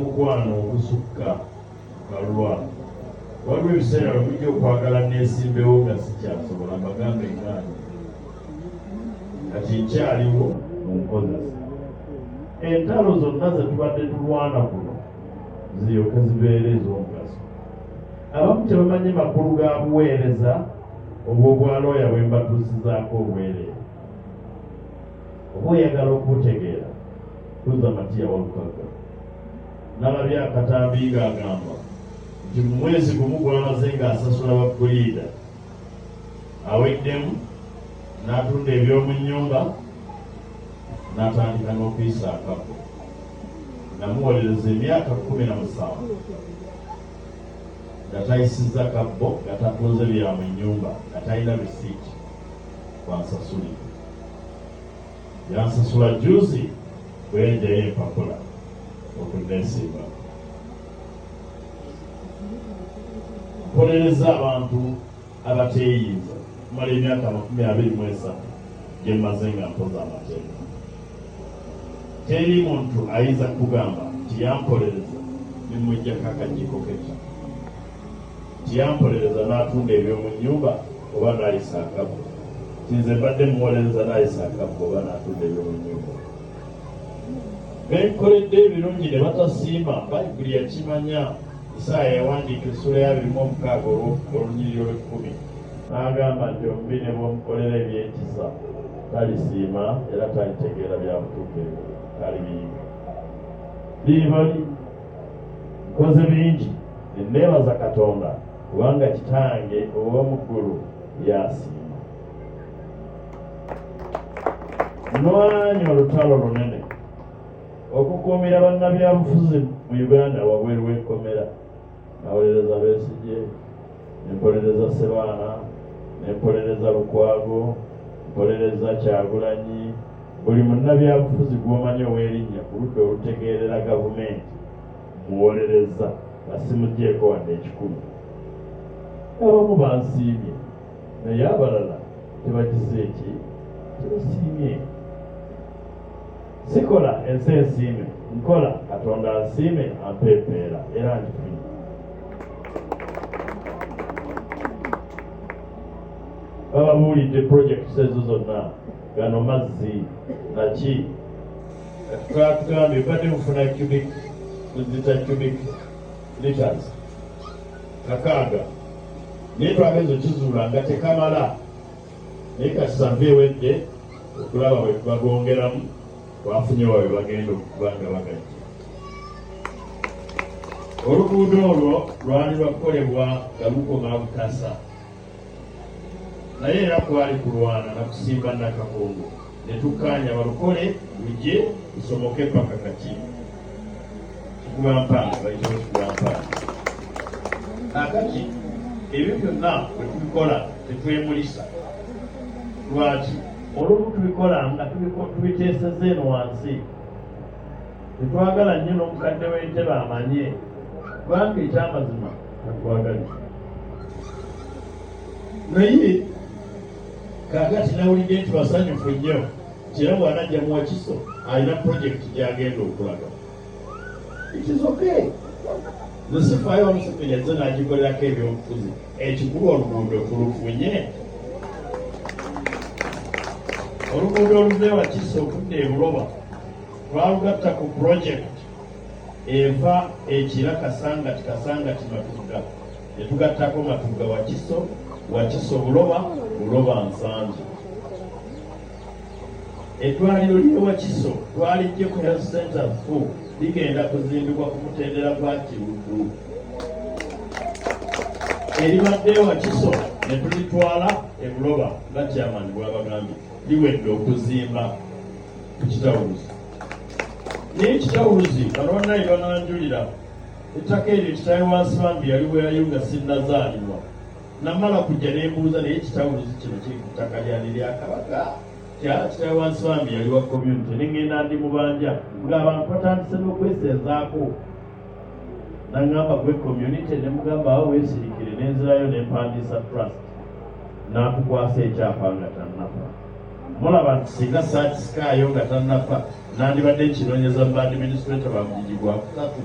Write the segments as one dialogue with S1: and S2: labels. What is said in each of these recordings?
S1: Omukwano ogusukka balwa. Waliwo ebiseera lwe mujja okwagala neesimbewo nga sikyasobola mbagambe engaano kati nkyaliwo mu nkozesa. Entalo zonna ze tubadde tulwana kuno ziryoke zibeere ez'omugaso. Abamu tebamanyi makulu ga buweereza obw'obwalooya bwe mbatuusizaako obwereere. oba oyagala okubutegeera kuza matiya walukagga nalabye akatambi ng'agamba nti mu mwezi gumu gwamaze ng'asasula bapuliida aweddemu n'atunda eby'omu nnyumba n'atandika n'okuyisa akako namuwolereza emyaka kumi na musanvu nga tayisizza kabbo nga tatunze bya mu nnyumba nga talina bisiiki bansasuli yansasula juzi bwenjayo empapula okunneesimba nkolereza abantu abateeyinza mala emyaka amakumi abiri mu esatu gye mmaze nga mpoza amateeka teri muntu ayinza kugamba nti yampolereza ne mujjako akajjiko kekya tiyampolereza n'atunda eby'omu nnyumba oba n'ayisa akabbo nti nze mbadde muwolereza n'ayisa akabbo oba n'atunda eby'omu nnyumba benkoledde ebirungi ne batasiima bayibuli yakimanya isaaya yawandiika essula yabirimu omukaaga olwolunyiriri olw'ekkumi n'agamba nti omubi ne bwomukolera ebyekisa talisiima era talitegeera bya butuukirivu talibiyiga biibali nkoze bingi neneebaza katonda kubanga kitange ow'omuggulu yasiima nwanya olutalo lunene okukuumira bannabyabufuzi mu uganda wabweru w'ekkomera nawolereza besigye mpolereza Sebaana ne mpolereza Lukwago mpolereza Kyagulanyi buli munnabyabufuzi gw'omanyi ow'erinnya ku ludda olutegeerera gavumenti muwolereza nga simugyeko wadde ekikulu abamu bansiimye naye abalala tebagize eki tebasiimye sikola ensi ensiime nkola katonda asiime ampa empeera era njifunye bababuulidde projekiti ezo zonna gano mazzi naki twatugambye badde mufuna cubic muzita cubic liters kakaaga naye twageza okizuula nga tekamala naye kati save ewedde okulaba bwe bagongeramu bafunye wawe bagenda okuba nga bagajja oluguudo olwo lwali lwakukolebwa nga lukoma butasa naye era kwali kulwana nakusimba nakakungu ne tukkaanya balukole lujje lusomoke paka kati kikuba mpanga bayitawo kikuba mpanga akati ebyo byonna bwe tubikola tetwemulisa lwaki olumu tubikola nga tubiteeseza eno wansi tetwagala nnyo n'omukadde w'entebe amanye kubanga ekyamazima tatwagaliza naye Kaakati nawulidde nti basanyufu nnyo nti era bw'anajja mu Wakiso alina pulojekiti gy'agenda okulaga. It is okay. Nze sifaayo Museveni azze n'agikolerako ebyobufuzi. Ekikulu oluguudo tulufunye. Oluguudo oluva e Wakiso okudda e Buloba twalugatta ku pulojekiti eva ekira kasangati kasangati matugga ne tugattako Matugga Wakiso, Wakiso Buloba, Buloba Nsangi. Eddwaliro ly'e Wakiso twaliggye ku Health Center ffu ligenda kuzimbibwa ku mutendera gwa Kiruddu eribadde e Wakiso ne tulitwala e Buloba nga chairman bwabagambye liwedde okuzimba ku kitawuluzi naye kitawuluzi abaana bananjulira ettaka eryo kitaawe wa nsibambi yaliwerayo nga sinnazaalibwa namala kujja nembuuza naye kitawuluzi kino kiri ku ttaka lyani lya kabaka kitaawe wa nsibambi yali wa community nengenda ndi mubanja ngaabantu batandise n'okwesenzaako nangamba gwe community nemugamba awo wesirikire nenzirayo nempandiisa trust nakukwasa ekyapa nga tanafa mulaba nti singa saakisikaayo nga tannafa nandibadde nkinoonyeza mu baadiminisituleta ba mugigi gwa kusatu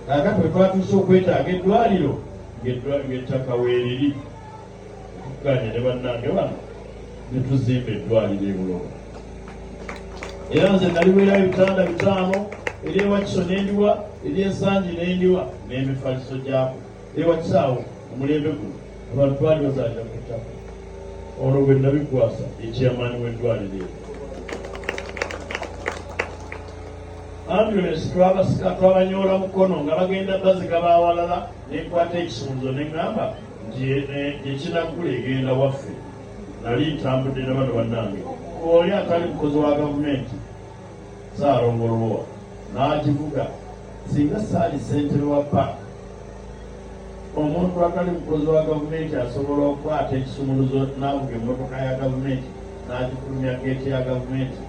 S1: kaakati bwe twatuuse okwetaaga eddwaliro ng'ettaka weeriri tukuganye ne bannange bano ne tuzimba eddwaliro ebuloba era nze naliweerayo ebitanda bitaano eryewakisoni endiwa eryensangi n'endiwa n'emifaliso gyako Ewakisaawo omulembe guno abantu baali bazaalira ku ttaka olwo bwe nabikwasa ekyamaani w'eddwaliro ero ambulensi twabasika twabanyoola mukono nga bagenda bazika bawalala nenkwata ekisunzo neŋŋamba nti gyekinaggula eh, egenda waffe nali ntambudde na bano bannange oli atali mukozi wa gavumenti Ssaalongo Lubowa n'agivuga singa saali ssentebe wa paaka omuntu atali mukozi wa gavumenti asobola okukwata ekisumuluzo n'avuga emmotoka ya gavumenti n'agifulumya geeti ya gavumenti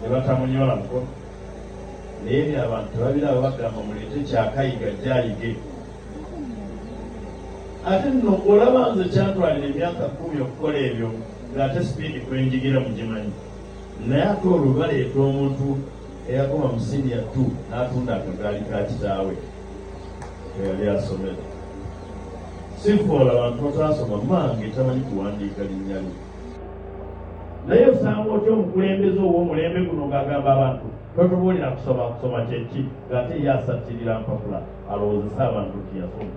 S1: ne batamunyola mukono naye byo abantu tebabiraba bagamba muleete kyakayiga jayige ate nno olaba nze kyantwalira emyaka kumi okukola ebyo ng'ate sipiidi kwenjigira mugimanyi naye ate olwo baleeta omuntu eyakoma mu siniya t n'atunda akagaali ka kitaawe eyali asomera sifoola abantu bataasoma mange tamanyi kuwandiika linnya lye naye osanga otya omukulembeze ow'omulembe guno ng'agamba abantu totubuulira kusoma kusoma kyeki ng'ate ye asattirira mpapula alowoozesa abantu nti yasoma